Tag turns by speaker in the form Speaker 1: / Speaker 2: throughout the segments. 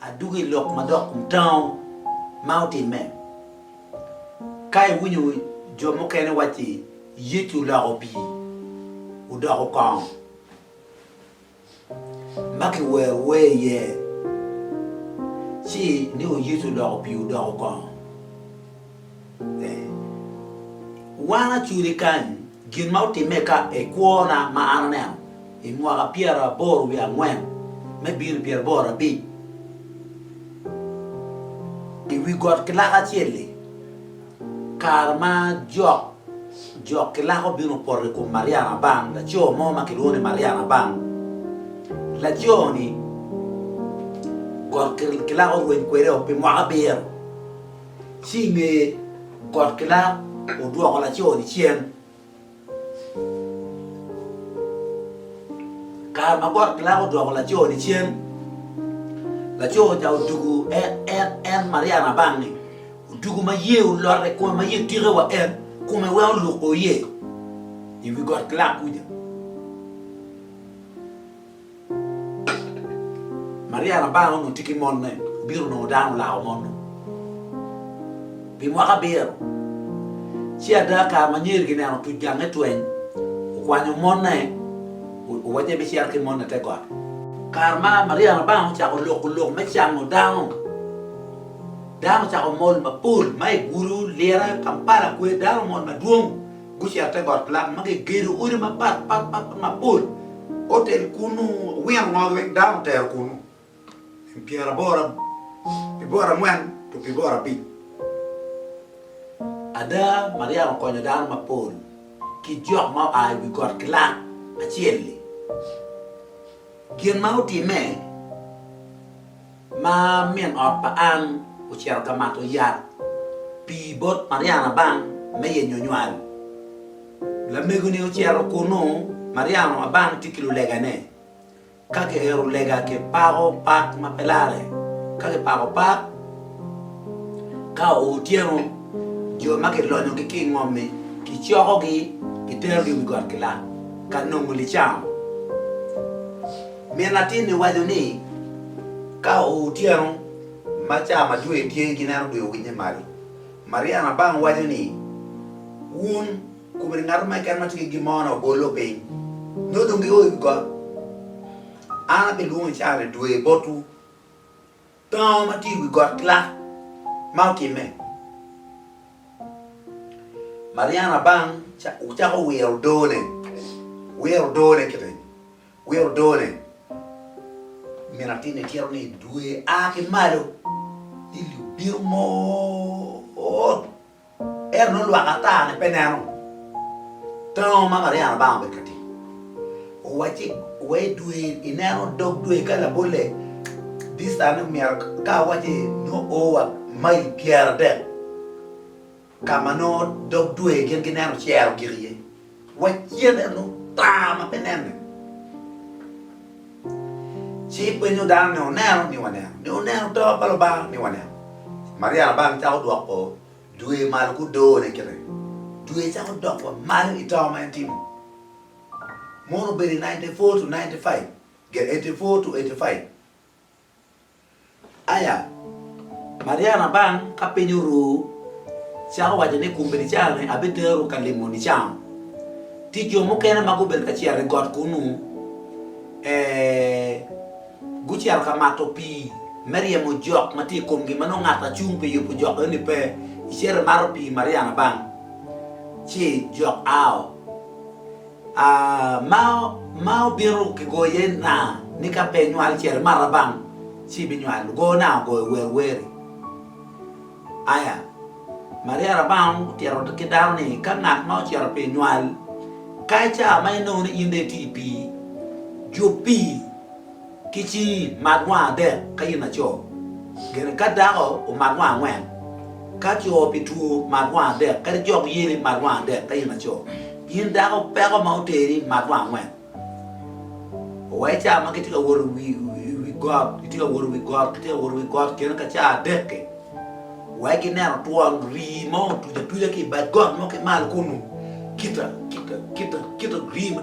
Speaker 1: Adwogo i lok ma dok mutango ma otimme. Ka iwinyo jo mukene wacci Yecu oloko pii odoko kong ma kiwero wer iye, ci iniko Yecu oloko pii odoko kong. Wan acudi kany gin ma otimme ka i kwona ma an aneno i mwaka pyeraboro wiye angwen me bino i pyeraboro abic i wi got ki laka acel-li, kare ma jok jok ki laka obino opoto i kom Maria Nabang, laco mo ma kilwongo ni Maria Nabang. Laco-ni got ki laka orweny kwede-o pi mwaka abiro. Ci i nge got ki lak odwoko laco-ni cen. Kare ma got ki lak odwoko laco-ni cen, laco ca odugu en Maria labang-ngi, odugu ma iyee olot i kome, ma iyee tike wa en, kome weng oluk o iye i wi got ki lak kuca. Maria labar onongo tye ki mone, obito onongo dano olako mon-nu pi mwaka abiro. Ci ada, kare ma nyer gineno otuc gange tweng, okwanyo mone, owacci ebicito ki mone i te got. Kare ma Maria labar ocako loko lok me cango dano, dano ocako mol mapol ma i Gulu, Lira, Kampala, Kwee, dano omol madwong. Gucito te got Plato ma gigedo odi mapat pat pat mapol, otel kunnu, owino ngogi weng dano otero kunnu, pi pyera aboro, pi boro angwen to pi boro abic. Ada, Mariam okonyo dano mapol ki jok ma oa i wi got ki lak acel-li. Gin ma otimme. Ma min ot pa Ann ocito ka mato yat pi bot Mariana Abang me yenyo nywal. Lamego-ni ocito kunnu, Mariana Abang tye ki lulegane. Ka kiero lega kipako pak ma pe lare. Ka kipako pak, ka oo otyeno, jo ma kilonyogi ki i ngom-mi kicokogi kiterogi i wi got gilak ka nongo licamo. Min latin-ni waco ni, Ka otyeno ma ca ma dwe tye ki neno dwe owinye malo, Maria Nabang waco ni, Wun kobedo ngat mo keken ma tye ki gin mo ni obolo piny, nyo dong gio i wi got, an abilwongo i caane dwe botwu. Tango ma tye i wi got lak ma otimme. Maria Nabang ocako wiro odone, wiro odone kiti. Wiye odo ne. Min atinni tyero ni dwe a ki malo ni li obino mot, ento nongo lwak ata ne pe neno tango ma Mariana bang obedo ka timo. Owacci wa i dwe ineno dog dwe ka labolle distance myero ka awacci nongo o wa mail pyer adek. ka ma nongo dog dwe gin gineno cero gik iye, wa cen eno tar ma pe nenne, ci penyo dano ni, Wuneno? Ni, Waneno. Ni, Wuneno to pa Lubanga? Ni, Waneno. Maria labang cako dwoko dwe malo ki odone kite, dwe cako dok wa malo i to ma en tye-ni. Mono obedo i ninety four to ninety five, eighty four to eighty five. Aya, Maria Rabang ka piny oru, cako waco ni kombeddi caro-ni abiterowu ka limo nicamu. Ti jo mukene ma gubedo ka cito i got kunnu, e, gucito ka mato pii me ryemo jok ma tye i komgi ma nongo ngat acung pi yubo jok eno-ni pe. Icito imato pii, Maria Rabang, ci jok ao. ma obino ki goyo iye naa ni ka pe inywal cere mara bang ci ibinywal ogo naa ogoyo wer weri aya Maria Rabang otito ki dano ni ka ngat ma ocito pi nywal ka ica ma inongo ni in dong iti pi jub pi Ki ci mat wang adek ka in laco, gene ka dako omat wang angwen, ka co pi two mat wang adek, kadi jok yeni mat wang adek ka in laco. In dako peko ma oteri mat wang angwen. Owae ca ma kitye ka wot i wi i wi got, kitye ka wot i wi got, kitye ka wot i wi got gene ka ca adek-ki, wae gineno twon rii mo otuc atuca ki i bad got mo ki malo kunu, kita, kita, kita, kita rii ma.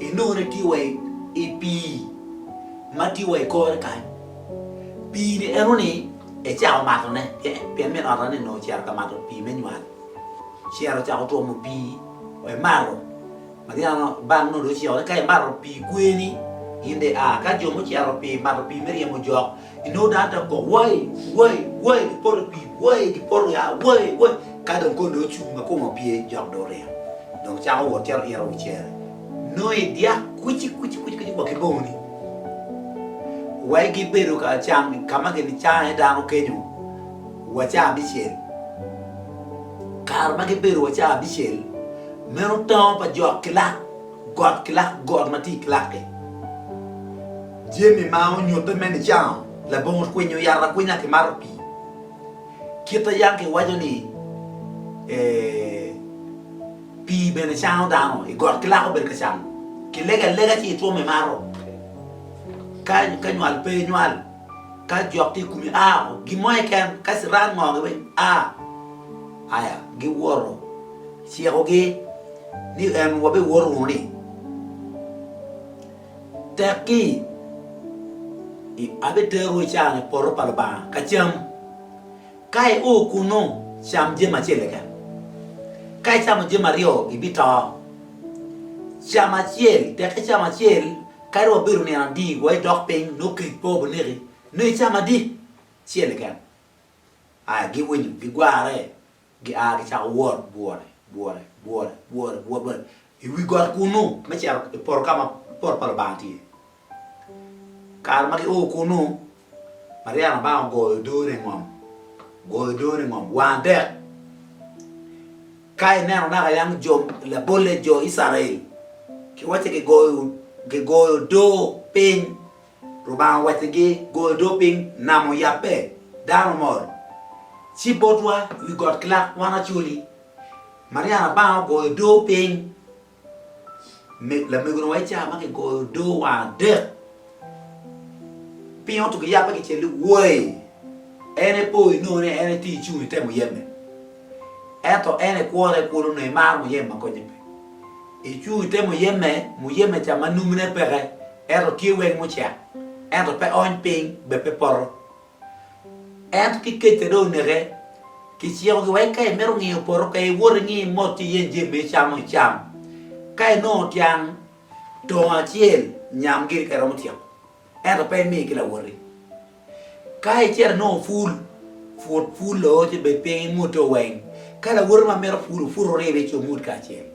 Speaker 1: Enone tye wa i pii ma tye wa i kore kany. Pii-ni enoni ecako matone pien min ot enoni onongo ocito ka mato pii me nywal. Cere ocako twomo pii wa emato. Mariana bang nongo dong ociko ni ka imato pii kweni in dong ia. Ka jo mucito pi mato pii me ryemo jok, Inongo dano dok kok wai! Wai! Wai! Gipoto i pii, wai! Gipoto ya, wai! Wai! Ka dong kor dong ocung ma kome opye, jok dong oringo. Dong cako wot cito ito wi cere. Nongo i dyak kwici kwici kwici kwici wa ki bongoni. Wai gibedo ka cam i ka ma ginicano iye dano kenyo wa ca abicel. Kare ma gibedo wa ca abicel, meno tongo pa jok ki lak. Got ki lak got ma tye i Clarke, jami ma onyutte me nicango labongo kwinyo yat akwinya ki mato pii. Kit a Yankee waco ni, Pii bene cango dano. I got ki lak obedo ka camo. Kilego alega ci itwom imato. Ka ka nywal pe inywal. Ka jok tye i kumi a oko. Gin mo keken ka ciran ngo gi weng a. Aya giwoto. Cikogi ni en wabiwor wunu ni tekki i abiterowu i can i poto pa Lubanga ka cam. Ka i o kunnu, cam jami acel keken. Ka icamo jami aryo, ibito. Cam acel, tek icam acel, kadi wa bedo nino adi wa idok piny nongo kec pe obineki, nongo icam adi? Acel keken. Aya giwinyo, gigwarre Gia gicako wot bwore, bwore, bwore, bwore, bwore, bwore i wi got kunnu me cito i poto ka ma poto pa Lubanga tye. Kare ma gio kunnu, Mariya labanga ogoyo odone i ngom, ogoyo odone i ngom, wange dek. Ka ineno naka yang jo labolle, jo Icrael, kiwacci gigoyo, gigoyo odo piny Lubanga owaccigi, Go odoo piny, nam oyabbe, dano omol. Ci botwa i wi got gilak wan acoli. Maryam Labanga ogoyo odoo piny. Me, lamegoni wa Icaya ma kigoyo odoo wa adek. Pingo to giyabbe gicele woi? En epo inongo ni en etye ecung itemo yemme. Ento en ekwore kun onongo imaro muyem ma konye pe. Icuyo te muyeme, muyeme ca ma numune peke ento tye weng mucek, ento pe ony piny bene pe poto. Ento ki kec-ca dong oneke, kicikogi wek ka imito ngiyo poto pe iwot ingi mot ci iyen jami ma icamo icam. Ka inongo tyang tongo acel, nyam giri ka iromo tyeko. ento pe imi ki lawoti. Ka icito inongo pul, put pul lo ci bed piny imute oweng. Ka lawoti ma mito pul oput oribe ci omut kacel.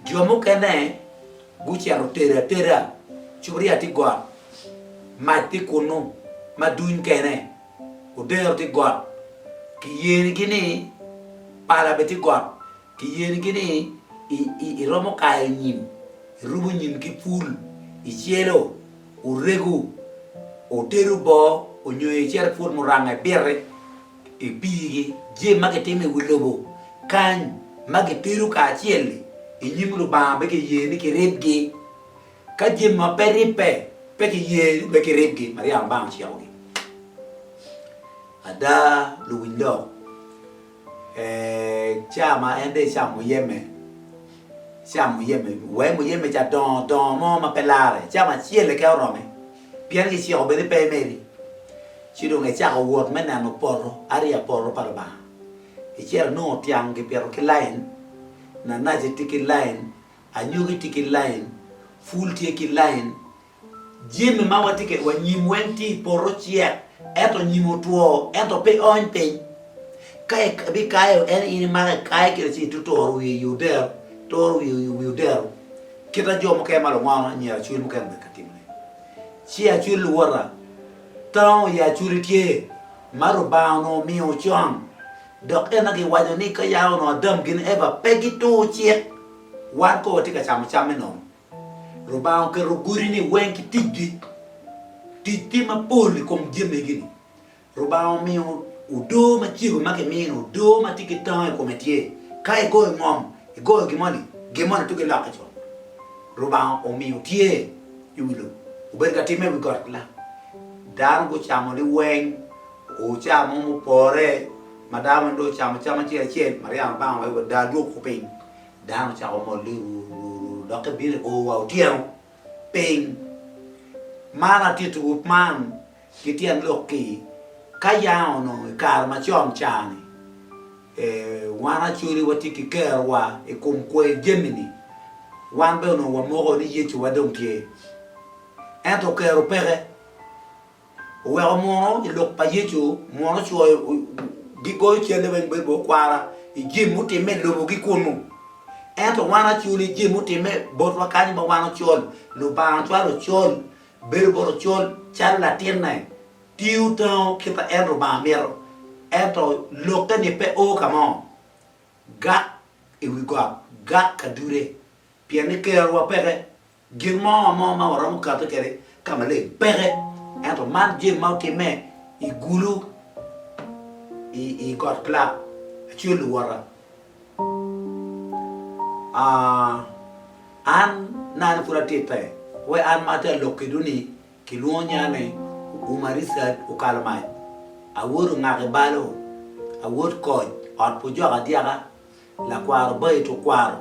Speaker 1: Jo mukene gucito otedo ateda, cupuria tye got, mac tye kunnu ma duny kene, odero tye got, kiyenigi ni pala bene tye got, Kiyerigi ni iromo kayo nyim, irubo nyim ki pul, icelo, orego, otedo boo, onyo icito ipwod muranga, ibiti, ipigi jem ma kitimo i wi lobo kany ma gitedo kacel-li i nyim Lubanga pe kiyer ni kiribgi. Ka jemi ma pe ribbe pe kiyer ni kiribgi, maraya Lubanga ocikogi. Ada, luwiny lok. Ca ma en dong ecawa muyeme, ecawa muyeme, wee muyeme ca dongo dongo mo ma pe larre, ecawa acel keken orome, pien kiciko bene pe emeri. Ci dong ecako wot me neno poto, ariya poto pa Lubanga. Icito inongo tyang kipito ki lain, nanaci tye ki lain, anyogi tye ki lain, pul tye ki lain. Jami ma watye kwede wa nyim weng tye i poto ocek, ento nyim otwo, ento pe oony piny. Ka ibikayo en in imako ikaye kwede ci ituturo wiye i odero, ituro wiye i wi odero, kita jo mukene ma lungono, anyira acwil mukene bene gitye ka timone. Ci acwil luwota, tango i acwili tye ma Lubanga onongo omiyo con, dok en aye giwaco ni ka ya onongo Adam gin Eva pe gituru cik, wan kong watye ka camo camme nono. Lubanga oketo godi-ni weng ki ticgi. Tic tye mapol i kom jami-gini. Lubanga omiyo odoo macego ma kimino, odoo ma tye ki tango i kome tye. Ka igoyo ngom, igoyo gin moni, gin moni tugo ilokke co. Lubanga omiyo tye i wi lobo, obedo ka timme i wi got ki lam. Dano gucamo liweng, o caa mo mupore ma dano weng dong ocamo cam acel acel, Mariana Obanga owaco wa, Daa dwogo piny. Dano ocako molle ru ru ru dok ebino i ur wa otyeno piny. Man atittiwu man ki tyen lok-ki, ka yanga onongo i kare macon ca-ni, wan Acholi watye ki kerowa i kom kwer jami-ni. Wan bene onongo wamoko ni Yecuwa dong tye. Ento kero peke. Oweko munu i lok pa Yecu, munu coyo gigoyo calle weng bedo bot kwara i jami mutimme i lobogi kunu. Ento wan acoli i jami mutimme botwa kany ma wan ocol, Lubanga ocwalo ocol, bedo bot ocol calo latinne, tiyo tango kit ma en Lubanga mito. Ento lokke-ni pe o ka mo, gak i wi got, gak ka dude, pien ni kerowa peke, Gin mo mo ma waromo kati kede ka maleng peke, ento man gin ma otimme i gulu i got Clark, Acel luwota, an nani pud atitte, we an ma atye alok kedwu ni kilwongo nya ni Uma Richard okalo mac, awoto ngak i balo, awot koc, ot pu jok adyaka, lakwaro bayi tukwaro.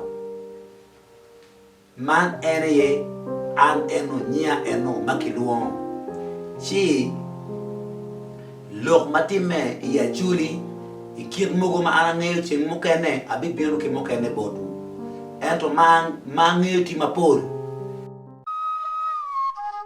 Speaker 1: Man en aye an eno, nyia eno ma kilwongo. Ci lok ma timme i Acoli i kit mogo ma an angeyo ceng mukene abibino ki mukene botwu, ento ma angeyo tye mapol.